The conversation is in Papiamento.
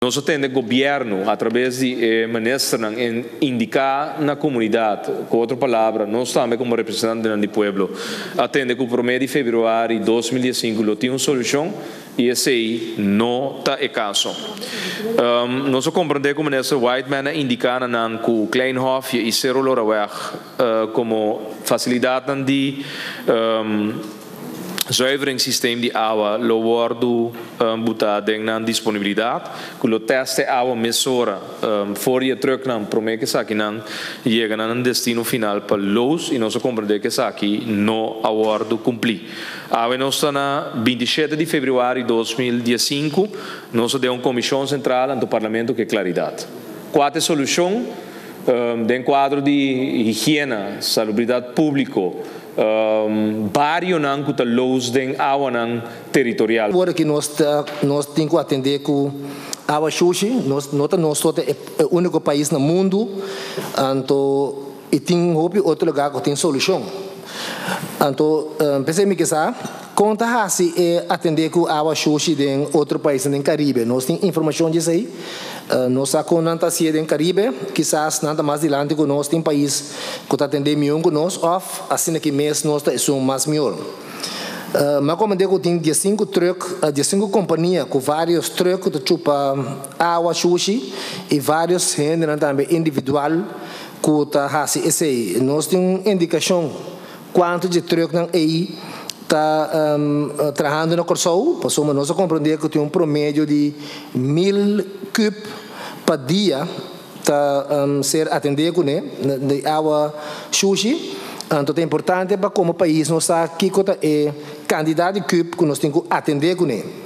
Nos a tende Gobierno a traves di e Ministernan en indica na comunidad, cu otro palabra nos tambe como representantenan di pueblo a tende cu prome di Februari dos mil dies sinku lo tin un solucion y esey no ta e caso. Nos a comprende cu Minister Whiteman a indica na nan cu Kleinhofje y Cerro Loraweg como facilidadnan di. Zuiveringssysteem di awa lo wordu butá den nan disponibilidat ku lo tèst e awa mesora for di e trùknan promé ku esaki nan yega na nan destino final pa lous i nos a komprendé ku esaki no a wordu kumplí. Awe nos ta na binti shete di febrüari dos mil dies sinku, nos a den un komishon sentral anto parlamento ku e klaridat. Kua ta e solushon? Den kuadro di higiena, salubridat públiko, barionan ku ta lous den awanan teritorial. Ora ki nos ta nos tin ku atendé ku awa shushi, nos no ta nos so ta e úniko pais na mundu, anto i tin hopi otro lugá ku tin solushon. Anto p'esei mi ke sa. Kon ta hasi e atendé ku awa shoshi den otro paisnan den Karibe? Nos tin informashon di esei? Nos sa kon nan ta hasié den Karibe. Kisas nan ta mas dilanti ku nos. Tin pais ku ta atendé miun ku nos òf asina ki mes nos ta esun mas mihor. M'a komendé ku tin diesinku trùk, diesinku kompania ku vários trùk ku ta chupa awa shoshi i vários hendenan tambe individual ku ta hasi esei. Nos tin un indikashon Cuanto dje truknan ey ta trahando na Corsou? Pasobra nos a comprende cu tin un promedio di mil kub pa dia ta ser atende cune di awa shushi. Anto ta importante pa como pais nos sa kico ta e cantidad di kub cu nos tin cu atende cune.